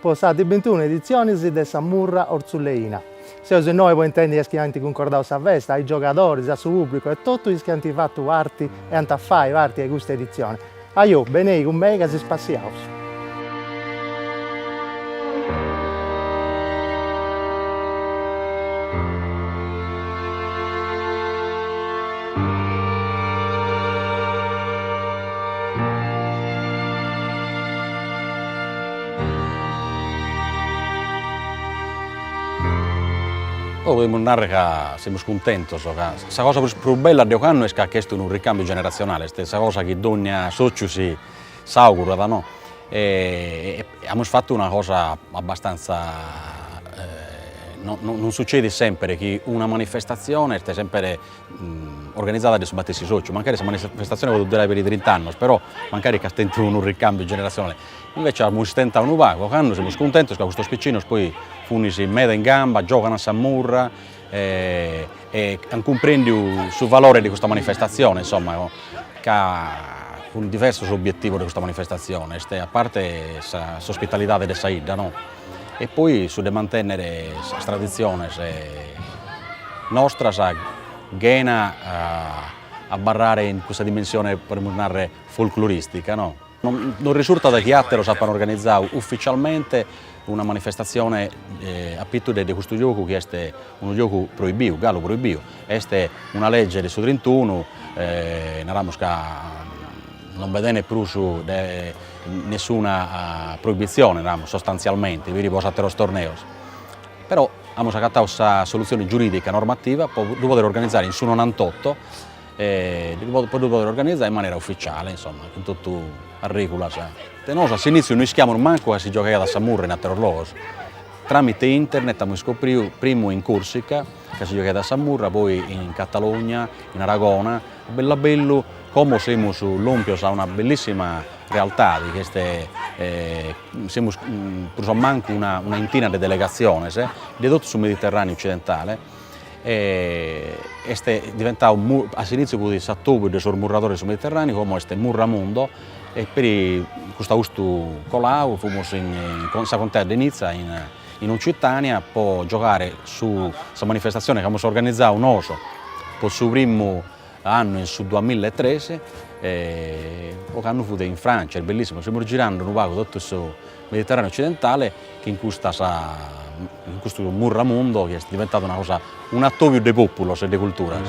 po sa de bintunu editzioni de sa Murra Ortzuleina. Seus innoi po intendi is chi ant cuncordau sa festa, is giogadoris, su pubblicu e totu is chi ant fatu parti e ant a fai parti de custa editzioni. Ajo, benei cun mei ca si spassiaus! Podimus narrer ca semus cuntentos ca sa cosa prus bella de ocannu est ca ch'est unu ricambiu generazionale, est sa cosa chi dogna sociu si s'augurat no e amus fattu una cosa abbastanza non succedit semper chi una manifestazione est semper organizzada de su matessi sociu, mancari sa manifestazione podit durai peri trint'annos però mancari chi at tentu unu ricambiu generazionale Invece amus istentadu unu pagu, ocannu semus cuntentos ca custos piccinos poi funis meda in gamba, giogan a sa murra e an cumprendiu su valore de custa manifestazione, insomma ca cun diversos obiettivos de custa manifestazione, est a parte s'ospitalidade de sa 'idda no, e poi su de mantenner sas tradiziones nostras chena abarrare in custa dimensione, podemus narrer, folcloristica no Non risultat chi àteros apant organizadu uficialmente una manifestatzione a pitu de custu giogu chi est unu giogu proibiu, galu proibiu. Est una lege de su trintunu, non bi tenet prus nessuna proibitzione, sostantzialmente, bi fit pro sos àteros torneos. Però amus agatau sa solutzione giuridica normativa po ddu pòdere organizare in su nonantotto e po ddu pòdere organizare in manera ufficiale, insomma, cun totu a règula. Nosu a s'inìtziu no ischiamus mancu ca si giogaiat a sa murra in àteros logos. Tràmite internet amus iscopriu, primu in Còrsica, ca si giogaiat a sa murra, poi in Catalogna, in Aragona, a bellu a bellu como semus lòmpios a una bellissima realtade, chi est, semus prus o mancu una intina de delegatziones, de totu su Mediterraneu occidentale est diventau a s'initziu fut s'atobiu de sos murradores de su Mediterraneu, como est Murramundo e peri custu austu colau fumus in sa Contea de Nizza in Occitània po giogare sa manifestazione chi amus organizau nosu po su primu annu in su duamilla e tres ocannu fut in Francia, bellissimu, semus girande unu pagu totu su Mediterraneu occidentale chi in custas in custu murramundu chi est diventadu una cosa un'atobiu de populos e de culturas.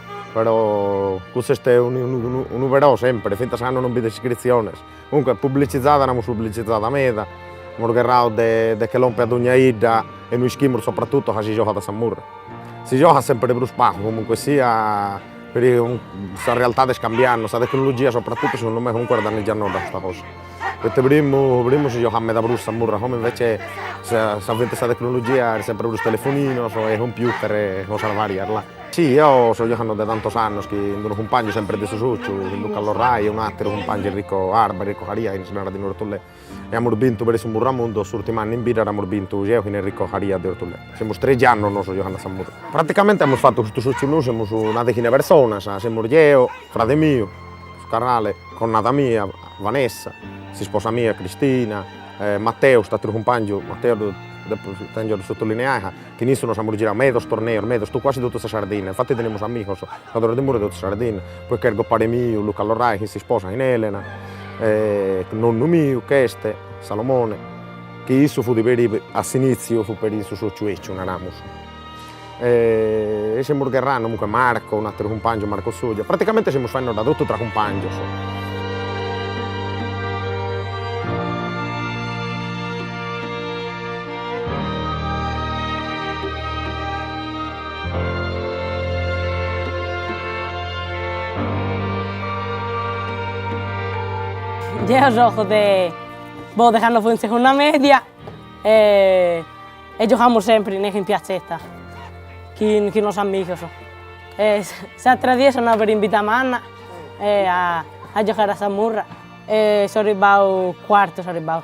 però custu est unu però sempre, fintzas cando non bi nd'est iscritziones, comunque publicitzada l'amus publicitzada meda, amus gherradu de che lomper dogna 'idda inue ischimus sopratutto ca si giogat a sa murra, si giogat sempre prus pagu comunque sia, sa realtà est cambianno, sa tecnologia sopratutto segundu me comunque est danniggianno meda custa cosa, poita primu primu si giogat meda prus sa murra, como invece s'avvento 'e sa tecnologia est sempre prus telefoninos e computer e cosas varias là Si, eo so giogandu de tantos annos chin d'unu cumpàngiu sempre de su Sociu, chin Luca Lorrai e unu àteru cumpàngiu Enrico Arba, Enrico Caria, chi si narat in Orthullè, e amus bintu peri su Murramundo, s'ùrtimu annu in bidda dd'amus bintu geu chin Enrico Caria de Orthullè, semus trexi annos nosu giogand' a sa murra. Praticamente amus fatu custu Sociu nosu semus una deghina 'e personas, semus geu, frade miu, su carrale, connada mia Vanessa, s'isposa mia Cristina, Matteo, cust'àteru cumpàngiu, Matteo ddu depo, tengiu a ddu sotolineai ca Chin issu nos amus giradu medos torneos, medos, to quasi totu sa Sardinna, infatti tenemus amigos giocadores de murra de totu sa Sardinna, poi est gopare miu, Luca Lorrai, chin s'isposa, chin Elena, e nonnu miu, ch'este Salomone, chi issu fut peri, a s'initziu fut peri in su sociu 'ecciu, naramus, e semus gherrando comunque Marco, un'ateru cumpangiu, Marco Soggia, praticamente semus faendodda totu tra cumpangios. Deo giogo de boh de cando fui in segunda media e e giogamus sempri in in piatzetta chin chin sos amigos e s'atera die so andadu peri in Biddamanna e a a giocare a sa murra e so arribbadu cuartu so arribbadu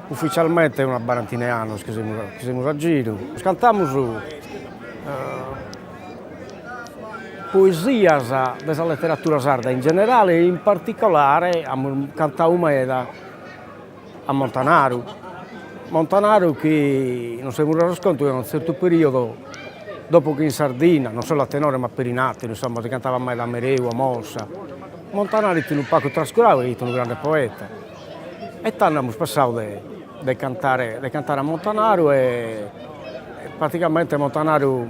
Ufficialmente una barantina 'e annos chi semus chi semus a giru, cantamus poesias de sa letteratura sarda in generale e in particolare amus cantadu meda a Montanaru, Montanaru chi nos semus resos contu chi a unu zertu periodo dopo chi in Sardinna, non solo a tenore ma peri in atteru insomma si cantavat meda a Mereu, a Mossa, Montanaru fit unu pagu trascuradu e fit unu grande poeta E tando amus pensadu de de cantare de cantare a Montanaru e pratigamente Montanaru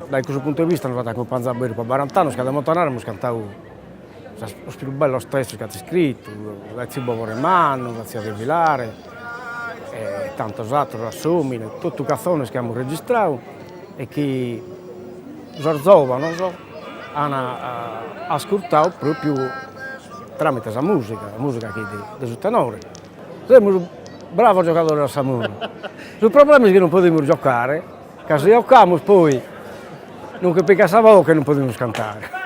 dae cussu puntu 'e vista nos at acumpanzadu beni pro barant'annos ca de Montanaru amus cantadu sas sos pius bellos testos chi at iscritu, dae Tziu Bobore Mannu, Sa tia de filare e tantos atteros, A s'omine, totu catzones chi amus registradu e chi sos zòvanos an ascurtadu propriu tramite sa musica, sa musica chi est de su tenore, semus bravos giocadores a sa murra, su problemas chi non podimus giocare, ca si giocamus poi non che pigat sa boche e non podimus cantare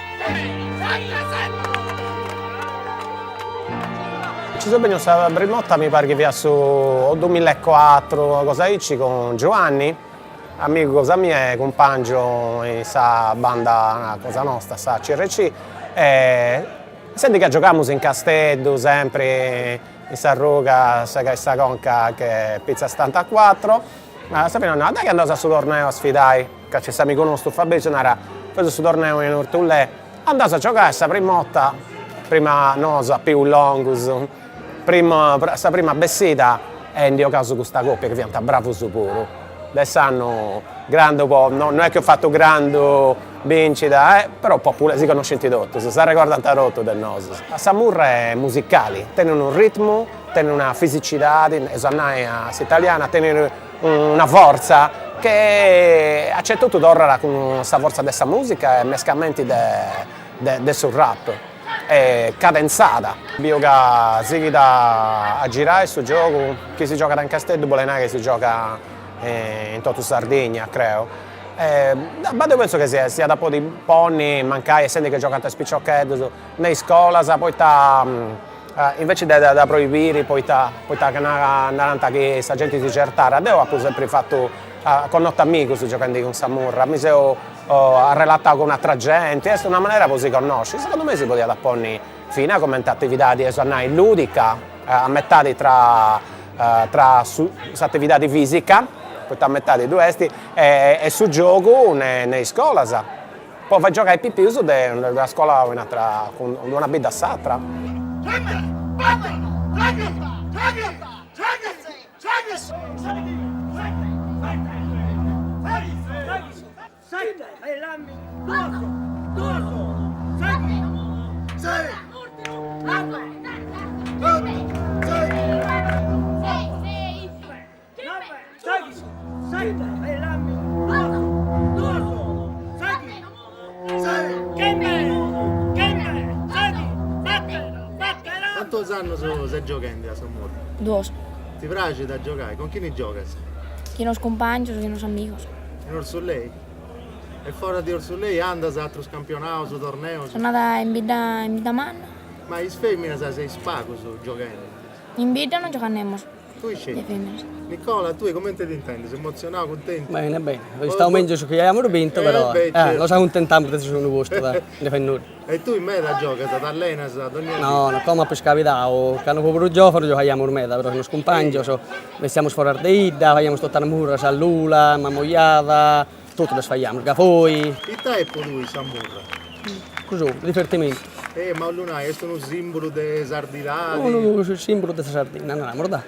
Ci so benniu sa prim'ota mi parit chi fiat su dumilla e cuatru una cosa aici cun Giuanni amigu cosa mia e cumpangiu in sa banda cosa nosta sa CRC e sendi ca giogamus in Casteddu sempri in s'arruga segai sa conca che pizza settantacuatro a sa fini nau dai chi andaus a su torneo a sfidai Ca nc'est s'amigu nostu Fabrizu narat, nc'est su torneu in Orthullè, andaus a giogai, sa prima 'otta, prima nosu a pius longus, propiu a sa prima bessida e ndi 'ogausu custa copia chi fiant bravus puru. De s'annu grandu po', no no est chi eus fatu grandu bincida e, però po' puru, si connoscint totus, s'arregordant totus de nosu. Sa murra est musicali, tenit unu ritmu, tenit una fisicidadi, eus a nai a s'italiana, tenit Una fortza che acertat totu, torrat cun sa fortza de sa musica e mescamenti de su rap, est cadentzada. Biu ca sighit a girai su giogu, chi si giogat in Casteddu bolit nai chi si giogat in totu Sardigna creu, ma deu pentzu chi si iat a podi ponni mancai essendi chi giogant is piciocheddus me is iscolas poita Invece de dda proibire poita ca narant chi sa genti si certat, deu apu sempri fatu, connotu amigus gioghendi cun sa murra, mi seu arrelatau cun atra genti, est una manera po si connosci, segundu mei si podiat ponni fina comente atividadi eus a nai ludica, a metadi tra tra su s'atividadi fisica, poita a metadi ddu est, e su giogu ne is scolas Po fai giogai pipius de una scola a un'atra, de una bidda a s'atra. Cantos annos ses gioghende a sa murra? Duos. Ti praxit a giogai? Cun chini giogas? Chin sos cumpàngios, chin sos amigos. In Urzulei? E foras de Urzulei andas a atrus campionaus, torneus? So andada in bidda in bidda manna. Ma is fèminas seis pagas gioghende? In bidda non giogant fèminas. Tui sceti. Dde fimus. Nicola, tui comente t'intendes? Emotzionau, cuntentu? Bene, bene. Est istadu mègius chi aiamus bintu, però. Eh, beh, certu. Nos acuntentamus de su segundu postu, dai, no fait nudda. E tui meda giogas, t'allenas dònnia dì? No, no, como apu iscabidau, candu fui prus giòvunu giogaiamus meda, però cun is cumpàngius bessiamus foras de 'idda, faiamus totu is murras a Lula, Mamoiada, Totu ddas faghiamus Gavoi. Ita est po tui sa murra? Gosi, divertimentu. E m'as a nai, est unu simbulu de sardidade? Unu simbulu de sa Sardinna, naramus, dai.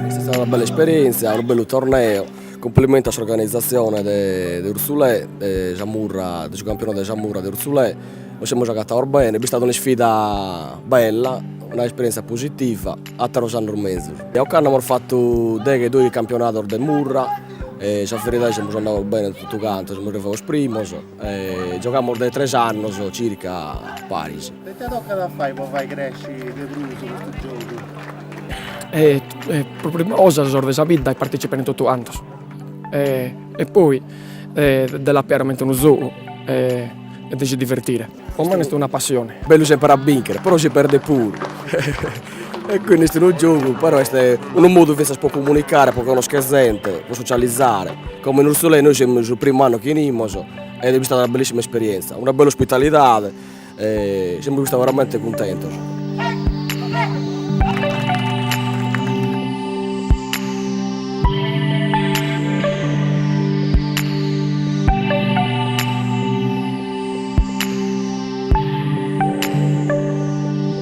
Est istada una bella esperienzia, unu bellu torneo. Cumplimentos a s'organizatzione de de Urzulè de sa murra de su campionadu de sa murra de Urzulè nos semus agatados bene, est istada un'isfida bella, una esperientzia positiva, ateros annos mezus. E ocannu amus fatu deghe doighi campionados de murra e sa veridade semus andados bene totu cantos, semus arrivados primos Giogamus dae tres annos circa paris. E ite tocat a fai pro fai cresci de prus custu giogu? pro prima cosa sos de sa bidda de partecipare totu cantos e poi de la pigare comente unu zogu e de si divertire. Pro mene est una passione. Bellu sempre a binchere, però si perdet puru E quindi est unu giogu, però est unu modu fintzas pro comunicare, pro connoschere zente, pro socializare, como in Ursulei nois semus su primu annu chi 'enimus e est istada una bellissima esperienza, una bella ospitalidade e semus istados veramente cuntentos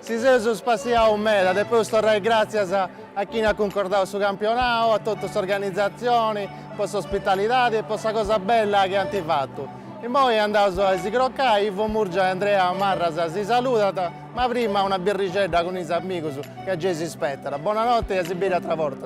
Si seus spassiaus meda, depeus torrai gràtzias a chini at cuncordau su campionau, a totu s'organizatzioni po s'ospitalidadi e po sa cosa bella chi ant fatu. Immoi andaus a si crocai, Ivo Murgia e Andrea Marras si saludant, ma prima una birrixedda cun is amigus ca gei s'ispetant. Bonanotte e a si biri atra borta.